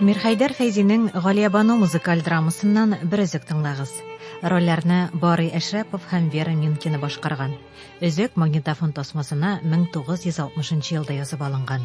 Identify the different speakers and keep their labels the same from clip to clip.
Speaker 1: Мирхәйдәр Фәйзинең Галиябану музыкаль драмасыннан бер өзек тыңлагыз. Рольләрне Барый Әшрәпов һәм Вера Минкина башкарган. Өзек магнитофон тасмасына 1960 елда язып алынган.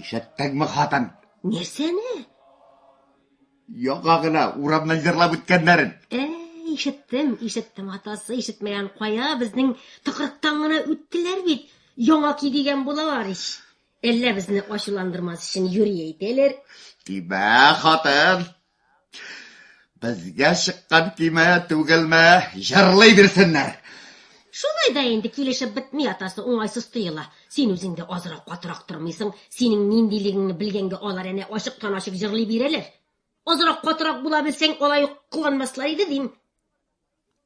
Speaker 2: Ишеттеңме,
Speaker 3: хатын? Нәрсәне? Яңа гына урамнан җырлап үткәннәрен. Ә, ишеттем,
Speaker 2: ишеттем, атасы, ишетмәгән кая, безнең тыкрыктан гына үттеләр бит. Яңа ки дигән булалар ич. Әллә безне ачуландырмас өчен юри әйтәләр. Тимә,
Speaker 3: хатын, Безгә чыккан көймә түгелме? Җырлый бирсеннәр. Шулай
Speaker 2: да инде килешеп бетми атасы уңайсыз тоела. Син үзең дә азрак катырак тормыйсың. Синең ниндилегеңне белгәнгә алар әнә ачыктан-ачык җырлый бирәләр. Азрак катырак була белсәң, алай ук кыланмаслар иде, дим.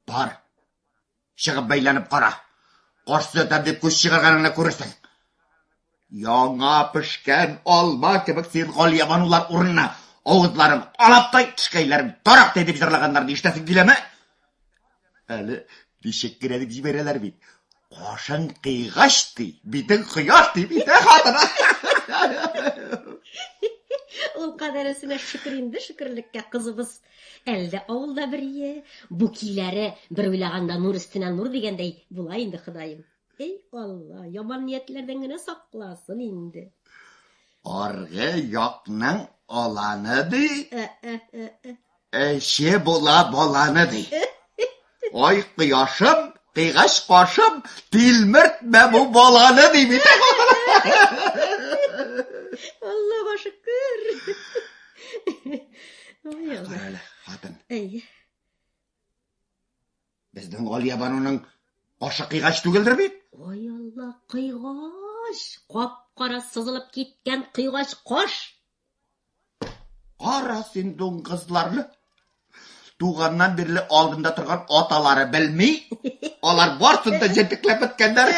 Speaker 2: Бар.
Speaker 3: Чыгып бәйләнеп кара. Каш төзәтәм дип күз чыгарганыңны күрерсең. Яңа пешкән алма кебек син галиябанулар урынына авызларын алаптай, тешкәйләрен тарактай дип җырлаганнарны ишетәсең киләме? Әле ничек кенә дип җибәрәләр бит. Кашың кыйгач ди, битең кояш ди бит, ә хатына.
Speaker 2: Ул кадәресенә шөкер инде шөкерлеккә кызыбыз Әлдә авылда бер ие, бу киләре, бер уйлаганда нур өстенә нур дигәндәй була инде, Ходаем. Әй Алла, яман ниятләрдән генә сакласын инде. Аргы
Speaker 3: якның аланы ди. Ә-ә-ә-ә. Эче була баланы ди. Ай, кояшым, кыйгач кашым, тилмертмә бу баланы, ди бит.
Speaker 2: Алла башы күр. Ой, Алла. Әле, хатын. Әй.
Speaker 3: Безнең Галия бануның ашы кыйгач түгелдер бит? Ой, Алла,
Speaker 2: кыйгач. Кап-кара сызылып киткән кыйгач каш.
Speaker 3: Кара син дуңгызларны. Туганнан бирле алдында торган аталары белми. Алар барсын да җентекләп беткәннәр.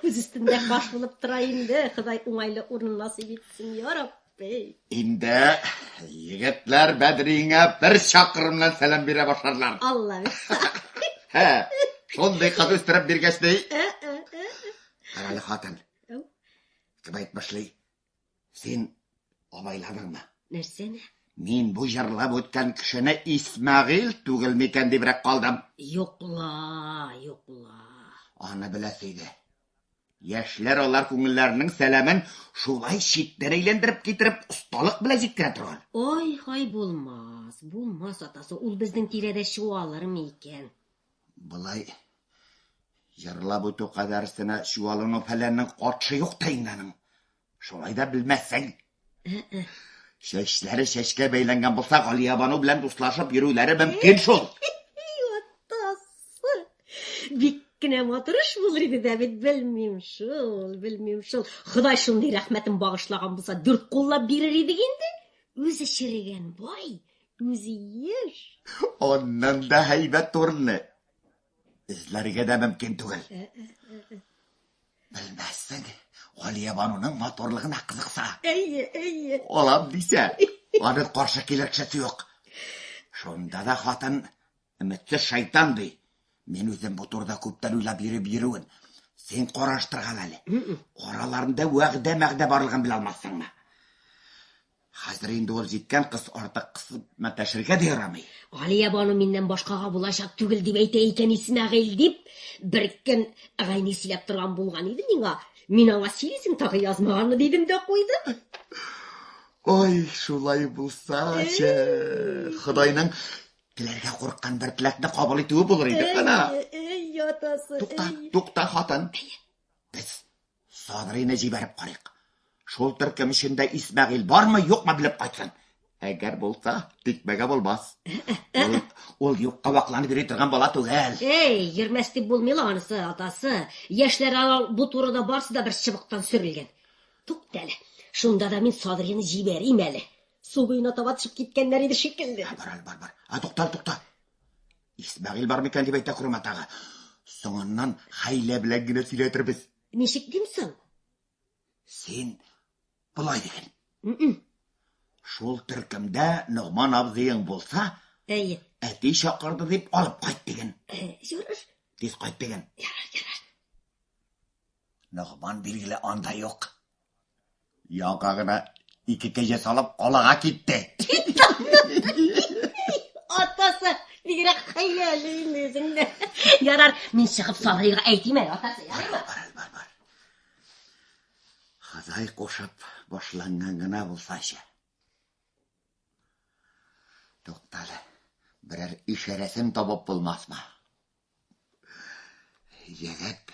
Speaker 2: Күз өстендә баш булып тора инде. Ходай уңайлы урын насыйп итсен, я Рабби. Инде
Speaker 3: егетләр Бәдриңә бер чакрымнан сәлам бирә башларлар. Алла бирса.
Speaker 2: Һә,
Speaker 3: шундый кыз үстереп биргәч ди. Әле хатын. Ау. Кем әйт башлый? Син абайладыңмы? Нәрсәне?
Speaker 2: Мин бу
Speaker 3: җырлап үткән кешене Исмәгыйл түгел микән дибрәк калдым. Юкла,
Speaker 2: юкла.
Speaker 3: Аны беләсе иде. Яшьләр алар күңелләренең сәламен шулай читтән әйләндереп китереп, осталык белән җиткерә торган. Ой, хай
Speaker 2: булмас, булмас атасы, ул безнең тирәдә чуалырмы икән? Былай
Speaker 3: җырлап үтү кадәр өстенә чуалыну фәләннең катшы юк та инде аның. Шулай да белмәссең. Чәчләре чәчкә бәйләнгән булса, Галиябану белән дуслашып йөрүләре мөмкин шул. Атасы.
Speaker 2: Бик кенә матур эш булыр иде дә бит, белмим шул, белмим шул. Ходай шундый рәхмәтен багышлаган булса, дүрт куллап бирер идек инде. Үзе черегән бай, Үзиеш. Аннан
Speaker 3: да һәйбәт урынны эзләргә дә мөмкин түгел. Э, э, э, Белмәссең, Галия бануның матурлыгына кызыкса. Әйе, әйе.
Speaker 2: Алам дисә,
Speaker 3: аны каршы килер кешесе юк. Шунда да хатын өметсез шайтан ди. Мин үзем бу турыда күптән уйлап йөреп йөрүен. Син караштырган әле. Араларында вәгъдә мәгъдә барлыгын белә алмассыңмы? Хәзер инде ул җиткән кыз артык кысып мәтәшергә дә ярамый. Галиябану миннән
Speaker 2: башкага булачак түгел дип әйтә икән Исмәгыйль, дип, бер көн Гайни сөйләп торган булган иде миңа. Мин аңа сөйлисең тагы язмаганмы, дидем дә куйдым.
Speaker 3: Ой, шулай булсачы, Ходайның теләргә курыккан бер теләкне кабул итүе булыр иде. Әнә. Эй, ятасы.
Speaker 2: Тукта, тукта, хатын.
Speaker 3: Без Садрыйны җибәреп карыйк. Шул төркем эчендә Исмәгыйль бармы, юкмы белеп кайтсын. Әгәр булса, тикмәгә булмас. Ул, ул юкка вакланып йөри торган бала түгел. Эй, йөрмәс дип
Speaker 2: булмый ла анысы, атасы. Яшьләр алар бу турыда барсы да бер чыбыктан сөрелгән. Тукта әле. Шунда да мин Садрыйны җибәрим әле. Су буена таба төшеп киткәннәр иде шикелле. Бар, бар, бар. А
Speaker 3: туктал, тукта. Исмәгыйль бар микән дип әйтә күрмә тагы. Соңыннан хәйлә белән генә сөйләтербез. Ничек дим соң? Син болай диген. Шул төркемдә Ногман абзыең булса, әйе. Әти
Speaker 2: чакырды
Speaker 3: дип алып кайт диген. Ярар.
Speaker 2: Тиз кайт диген.
Speaker 3: Ярар, ярар. Ногман билгеле анда юк. Ялга гына ике кәҗә салып калага китте.
Speaker 2: Атасы, бигрәк хәйләле инде үзең дә. Ярар, мин чыгып сарыйга әйтим әле, атасы, ярыймы?
Speaker 3: Ходай кушып башланган гына булсачы. Туктале, берәр ишарәсен табып булмасмы? Егет,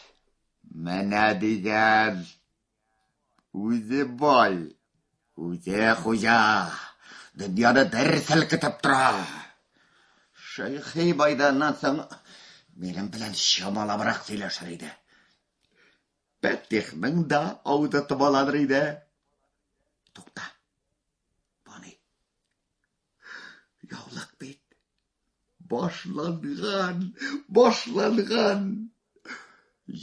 Speaker 3: менә дигән, үзе бай, үзе хуҗа, дөньяны бер селкетеп тора. Шәйхи байданнан соң минем белән чамалабрак сөйләшер иде. Пәтихның да ауды томаланыр иде. Тукта. Бу ни? Яулык бит. Башланган, башланган!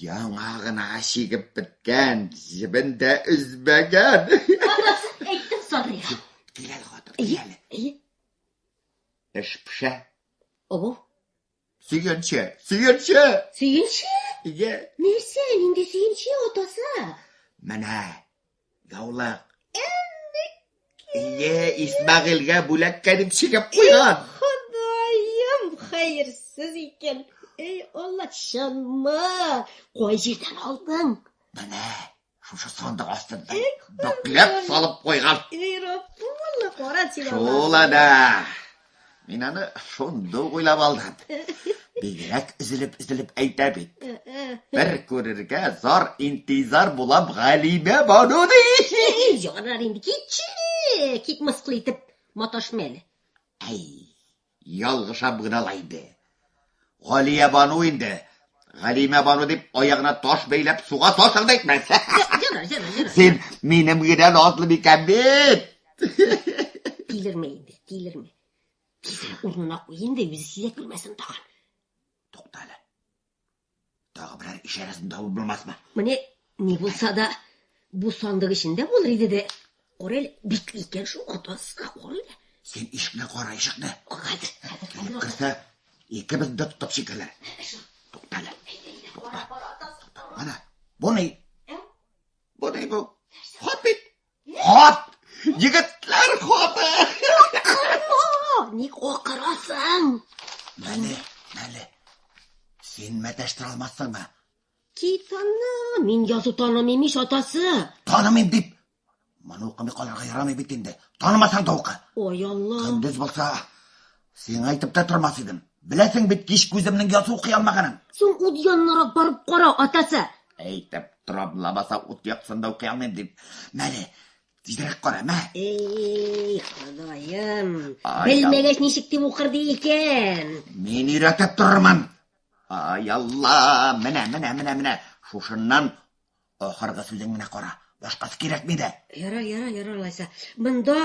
Speaker 3: Яңа гына чигеп беткән, җебен дә өзмәгән. Анасы
Speaker 2: әйттем, Садрига. Кил әле, хатын, кил
Speaker 3: әле. Әйе. Эш пешә. Ого.
Speaker 2: Сөенче,
Speaker 3: сөенче!
Speaker 2: Сөенче? Иә.
Speaker 3: Нәрсә, нинди
Speaker 2: сөенче атасы? Менә
Speaker 3: Яулык. Ие, Исмәгыйльгә бүләк кәдим чигеп куйган. Ходаем,
Speaker 2: хәерсез икән. Эй, Алла, чынмы? Кай җирдән алдың? Менә,
Speaker 3: шушы сандык астында. Бөкләп салып куйган. Эй, Рапулла,
Speaker 2: кара син. Шул ана.
Speaker 3: Мин аны шунда ук уйлап алдым. Бигрәк өзелеп-өзелеп әйтә бит. Бер күрергә зар интизар булам Галимә Бану ди. Ярар инде китче,
Speaker 2: кит мыскыл итеп маташма әле. Әй,
Speaker 3: ялгышам гына ла инде. Галиябану инде. Галимәбану дип аягына таш бәйләп суга салсаң да әйтмәс. Ярар, ярар, ярар.
Speaker 2: Син минем
Speaker 3: генә назлы бикәм бит.
Speaker 2: Тилермә инде, тилермә. Тизрәк урынына куй инде, үзе сизә күрмәсен тагын. Туктале.
Speaker 3: Тагы берәр ишарәсен табып булмасмы? Менә ни
Speaker 2: булса да бу сандык эчендә булыр иде дә. Кара әле, бик икән шул атаска кара әле. Син ишекне
Speaker 3: кара, ишекне. Хәзер, хәзер, хәзер.
Speaker 2: Керсә,
Speaker 3: икебез дә тотып чикерләр. Тукта әле. Тукта. Ана, бу ни? Бу ни бу? Хат бит. Хат! Егетләр хаты!
Speaker 2: Ник акырасың? Мәле,
Speaker 3: мәле. Син мәтәштер алмассыңмы? Китаны,
Speaker 2: мин язу танымыйм ич атасы. Танымыйм дип.
Speaker 3: Моны укымый калырга ярамый бит инде. Танымасаң да укы. Ой, Алла. Көндез
Speaker 2: булса,
Speaker 3: Сиңа әйтеп тә тормас идем. Беләсең бит, кич күземнең ясу укый алмаганын. Син ут яннарак
Speaker 2: барып кара, атасы. Әйтеп
Speaker 3: торам, лабаса ут яксында укый алмыйм дип. Мәле, тизрәк кара, мә. Эй,
Speaker 2: ходаем. Белмәгәч
Speaker 3: ничек дип укыр
Speaker 2: ди икән? Мин өйрәтеп
Speaker 3: торырмын. Ай алла, менә, менә, менә, менә. Шушыннан ахыргы сүзең менә кара. Башкасы кирәкми дә. Яра, яра, яра, алайса.
Speaker 2: Монда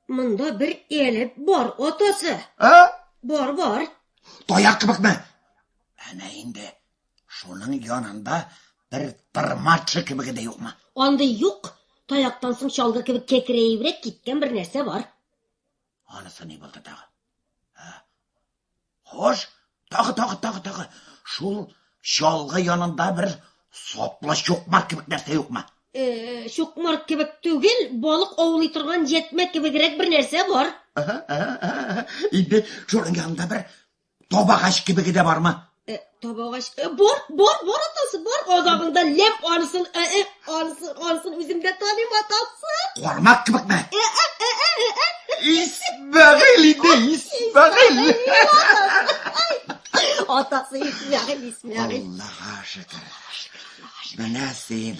Speaker 2: Монда бер элеп бар атасы. А? Бар, бар. Таяк
Speaker 3: кебекме? Әнә инде шуның янында бер тырмачы кебеге дә юкмы? Андый юк.
Speaker 2: Таяктан соң чалгы кебек кәкрәебрәк киткән бер нәрсә бар. Анысы
Speaker 3: ни булды тагы? Хош, тагы, тагы, тагы, тагы. Шул чалгы янында бер саплы чукмар кебек нәрсә юкмы? Э, чукмар
Speaker 2: кебек түгел, балык аулый торган җәтмә кебегрәк бер нәрсә бар.
Speaker 3: Инде шуның янында бер табагач кебеге дә бармы? Э, табагач,
Speaker 2: э, бор, бор, бор атасы, бор, азагында лем арысын, э, э, арысын, арысын, үземдә таныйм атасы. Кармак кебек ме?
Speaker 3: Э, э, э, э, э, э. Исмәгыйль иде, Исмәгыйль.
Speaker 2: Атасы Исмәгыйль, Исмәгыйль. Аллаһа
Speaker 3: шөкер. Менә син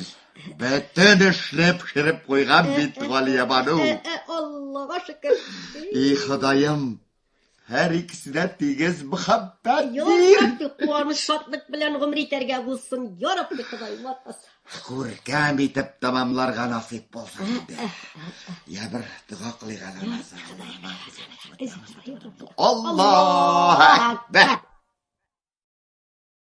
Speaker 3: бөтен эшне пешереп куйган бит, Галиябану. Аллаһа
Speaker 2: шөкер. И
Speaker 3: Ходаем, Һәр икесе дә тигез мөхәббәт бир. Еларга
Speaker 2: куаныч шатлык белән гомер итәргә булсын. Ярабби Ходай матас. Күркәм
Speaker 3: итеп тәмамларга насыйп булсын инде. Я бер дога кылыйк әле. Аллаһ Акбар.